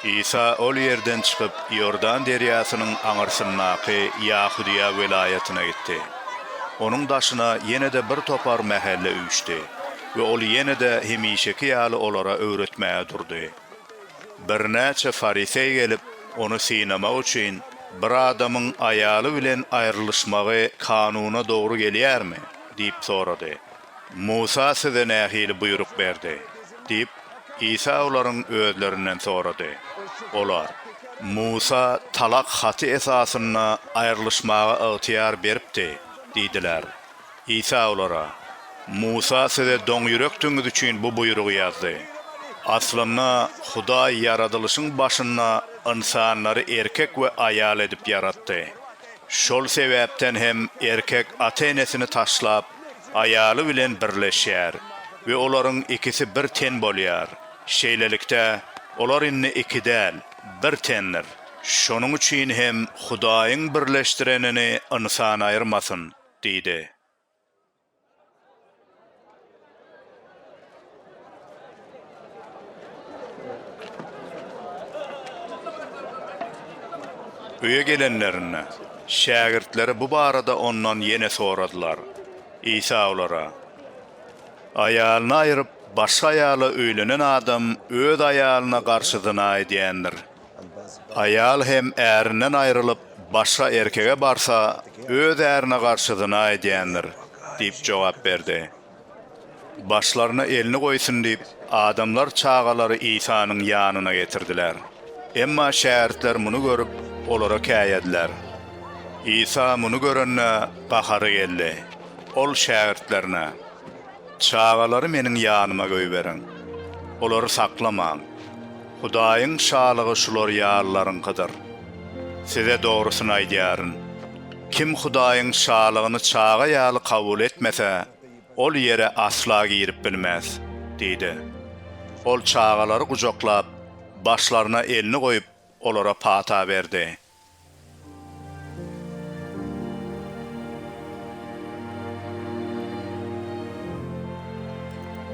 Isa ol ýerden çykyp, Iordan derýasynyň aňyrsyndaky Ýahudyýa welaýatyna gitdi. Onuň daşyna ýene-de bir topar mähelle üýşdi we ol ýene-de hemişeki ýaly olara öwretmäge durdy. Birnäçe fariseý gelip, ony synamak üçin, Bir adamyň aýaly bilen aýrylyşmagy kanuna dogry gelýärmi? diýip sorady. Musa size nähili buýruk berdi? diýip, Isa olaryň özlerinden sorady. Olar. Musa talak haty esasynda aýrylyşmaga ygtyýar beripdi diýdiler. Isa olara. Musa size doňýürekdigiňiz üçin bu buýrugy ýazdy. Aslynda, Hudaý ýaradylyşyň başynda ynsanlary erkek we aýal edip ýaratdy. Şol sebäpden hem erkek ata-enesini taşlap, aýaly bilen birleşýär we olaryň ikisi bir ten bolýar. Şeýlelikde, olar indi iki däl, bir tendir. Şonuň üçin hem Hudaýyň birleşdirenini ynsan aýyrmasyn diýdi. Öýe gelenlerinde, şägirtleri bu barada ondan ýene soradylar. Isa olara, Aýalyny aýryp, başga aýala öýlenen adam öz aýalyna garşy zyna edýändir. Aýal hem ärinden aýrylyp, başga erkege barsa, öz ärine garşy zyna edýändir diýip jogap berdi. Başlaryna elini goýsun diýip, adamlar çagalary Isanyň ýanyna getirdiler. Emma şägirtler muny görüp, olara käýediler. Isa muny görende, gahary geldi. Ol şägirtlerine, Çagalary Meniň ýanyma goýberiň. Olary saklamaň. Hudaýyň Şalygy şular ýalylaryňkydyr. Size dogrusyny aýdýaryn. Kim Hudaýyň Şalygyny çaga ýaly kabul etmese, ol ýere asla girip bilmez diýdi. Ol çagalary gujaklap, başlaryna elini goýup, olara pata berdi.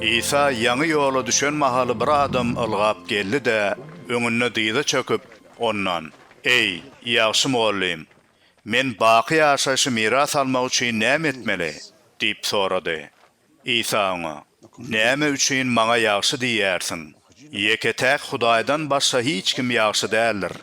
Isa ýaňy ýola düşen mahaly bir adam ylgap geldi-de, öňünde dyza çöküp, Ondan. Eý, ýagşy mugallym, men baky ýaşaýşy miras almak üçin näme etmeli? diýip sorady. Isa oňa, Näme üçin Maňa ýagşy diýýärsiň? Ýeke-täk Hudaýdan başga hiç kim ýagşy däldir.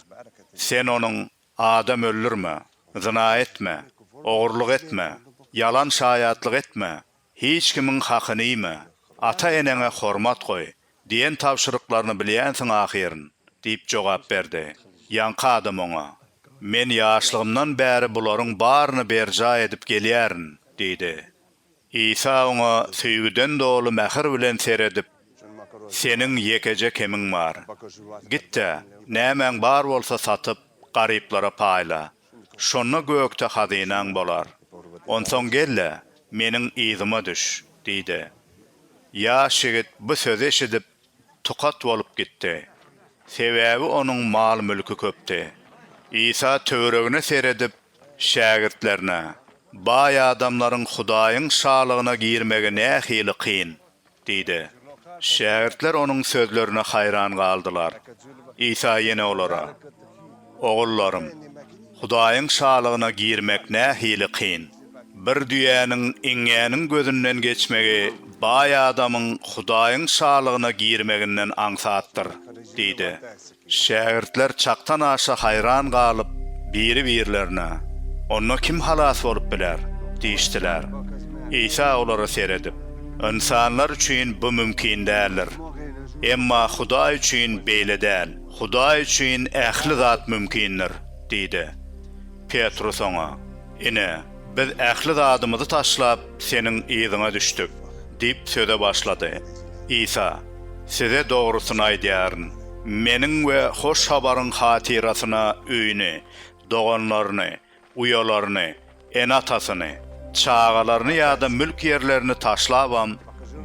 Sen onuň, Adam öldürme, zyna etme, ogurlyk etme, ýalan şaýatlyk etme, Hiç kimiň hakyny iýme, ata-eneňe hormat goý diýen tabşyryklaryny bilýänsiň ahyryn, diýip jogap berdi. Ýaňky adam oňa, Men ýaşlygymdan bäri bularyň baryny berjaý edip gelýärin, diýdi. Isa oňa söýgüden doly mähir bilen seredip, Seniň ýekeje kemiň bar. Git-de, nämäň bar bolsa satyp, garyplara paýla. Şonda gökde hazynaň bolar. Onsoň gel-de, meniň yzyma düş, diýdi. Ýaş ýigit bu sözi eşidip, tukat bolup gitdi. Sebäbi onuň mal-mülki köpdi. Isa töweregine seredip, şägirtlerine, Baý adamlaryň Hudaýyň Şalygyna girmegi nähili kyn! Diýdi. Şägirtler Onuň sözlerine haýran galdylar. Isa ýene olara, Ogullarym, Hudaýyň Şalygyna girmek nähili kyn! Bir düýäniň iňňäniň gözünden geçmegi baý adamyň Hudaýyň Şalygyna girmeginden aňsatdyr! diýdi. Şägirtler çakdan-aşa haýran galyp, biri-birlerine, Onda kim halas bolup biler? diýişdiler. Isa olara seredip, Ynsanlar üçin bu mümkin däldir. Emma Hudaý üçin beýle däl. Hudaý üçin ähli zat mümkindir diýdi. Petrus oňa. Ine, biz ähli zadymyzy taşlap, Seniň yzyňa düşdük diýip söze başlady. Isa, Size dogrusyny aýdýaryn, Meniň we Hoş Habaryň hatyrasyna öýüni, doganlaryny, uýalaryny, ene-atasyny, çagalaryny ýa-da mülk ýerlerini taşlabam,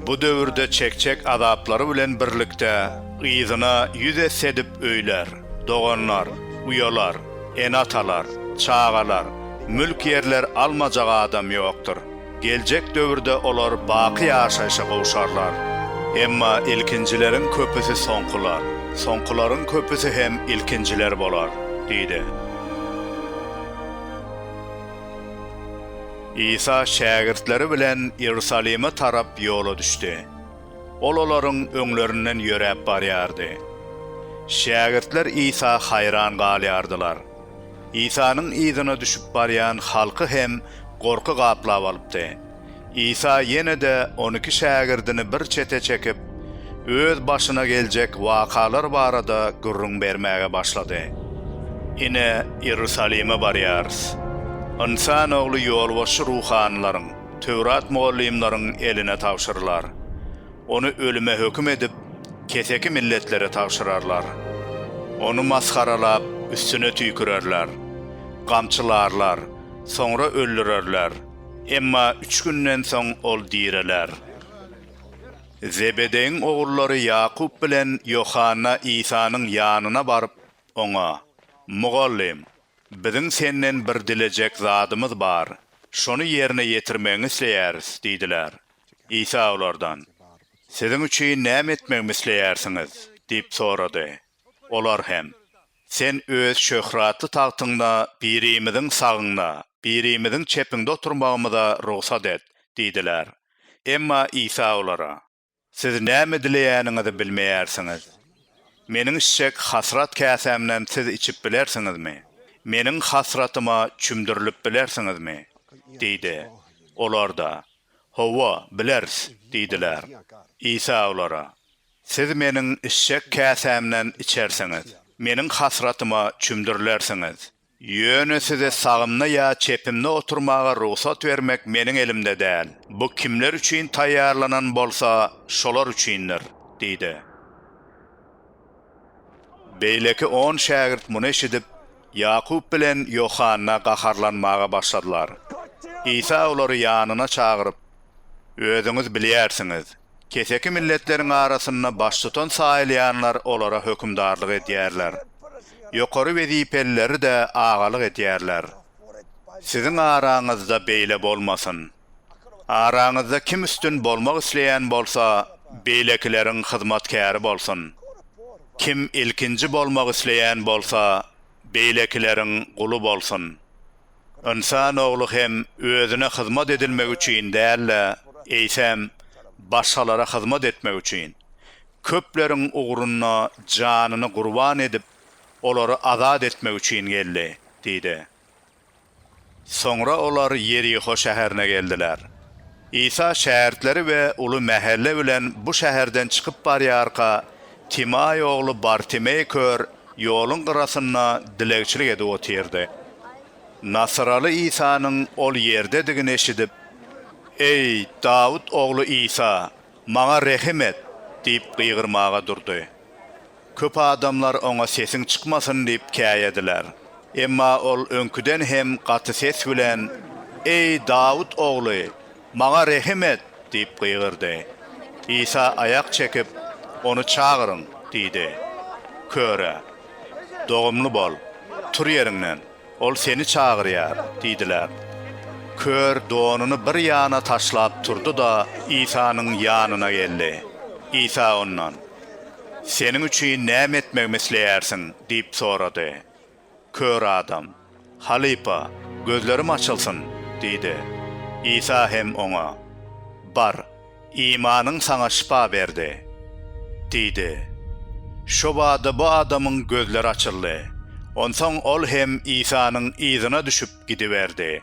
Bu döwürde çekjek azaplary bilen birlikde yzyna ýüz esse edip öýler, doganlar, uýalar, ene-atalar, çagalar, mülk-ýerler almajak adam ýokdur. Geljek döwürde olar baky ýaşaýşa gowşarlar. Emma ilkinjileriň köpüsi soňkular, soňkularyň köpüsi hem ilkinjiler bolar, diýdi. Isa şägirtleri bilen Iýerusalime tarap ýola düşdi. Ol olaryň öňlerinden ýöräp barýardy. Şägirtler Isa haýran galýardylar. Isanyň yzyna düşüp barýan halky hem gorky gaplap alypdy. Isa ýene-de on iki şägirdini bir çete çekip, öz başyna geljek wakalar barada gürrüň bermäge başlady. Ine, Iýerusalime barýarys. Ynsan Ogly ýolbaşçy ruhanylaryň, Töwrat mugallymlaryň eline tabşyrylar. Ony ölüme höküm edip, keseki milletlere tabşyrarlar. Ony masgaralap, üstüne tüýkürerler. Gamçylarlar, soňra öldürerler. Emma üç günden soň ol direler. Zebedeýiň ogullary Ýakup bilen Ýohanna Isanyň ýanyna baryp, Oňa, Mugallym, biziň Senden bir dilejek zadymyz bar, şony ýerine ýetirmegiňi isleýäris diýdiler. Isa olardan, Siziň üçin näme etmegimi isleýärsiňiz? diýip sorady. Olar hem, Sen Öz şöhratly tagtyňda birimiziň sagyňda, birimiziň çepiňde oturmagymyza rugsat et diýdiler. Emma Isa olara, Siz näme dileýäniňizi bilmeýärsiňiz. Meniň içjek hasrat käsämden siz içip bilersiňizmi? Meniň hasratyma çümdürilip bilersiňizmi? diýdi. Olar-da, Hawa, bileris diýdiler. Isa olara, Siz Meniň içjek käsämden içersiňiz, Meniň hasratyma çümdürilersiňiz. Ýöne size sagymda ýa çepimde oturmaga rugsat bermek meniň elimde däl. Bu kimler üçin taýýarlanan bolsa, şolar üçindir, diýdi. Beýleki on şägirt muny eşidip, Ýakup bilen Ýohanna gaharlanmaga başladylar. Isa olary ýanyna çagyryp, Özüňiz bilýärsiňiz, keseki milletleriň arasynda baştutan saýylýanlar olara hökümdarlyk edýärler. Ýokary wezipelileri-de agalyk edýärler. Siziň araňyzda beýle bolmasyn. Araňyzda kim üstün bolmak isleýän bolsa, beýlekileriň hyzmatkäri bolsun. Kim ilkinji bolmak isleýän bolsa, beýlekileriň guly bolsun. Ynsan ogly hem özüne hyzmat edilmek üçin däl-de, eýsem, başgalara hyzmat etmek üçin, köpleriň ugrunda janyny gurban edip, olary azat etmek üçin geldi diýdi. Soňra olar Ýeriho şäherine geldiler. Isa şägirtleri we uly mähelle bilen bu şäherden çykyp barýarka, Timaý ogly Bartimeý kör ýoluň gyrasynda dilegçilik edip otyrdy. Nasyraly Isanyň ol ýerdedigini eşidip, Eý, Dawut ogly Isa, maňa rehim et! diýip gygyrmaga durdy. Köp adamlar oňa sesiň çykmasyn diýip käýediler. Emma ol öňküden hem gaty ses bilen, Eý, Dawut ogly, Maňa rehim et! diýip gygyrdy. Isa aýak çekip, Ony çagyryň! diýdi. Köre, Dogumly bol! Tur ýeriňden! Ol seni çagyrýar! diýdiler. Kör donuny bir ýana taşlap turdy-da, Isanyň ýanyna geldi. Isa ondan, Seniň üçin näme etmegimi isleýärsiň? diýip sorady. Kör adam, Halypa, gözlerim açylsyn! diýdi. Isa hem oňa, Bar, imanyň saňa şypa berdi! diýdi. Şo bada bu adamyň gözleri açyldy. Onsoň ol hem Isanyň yzyna düşüp gidiberdi.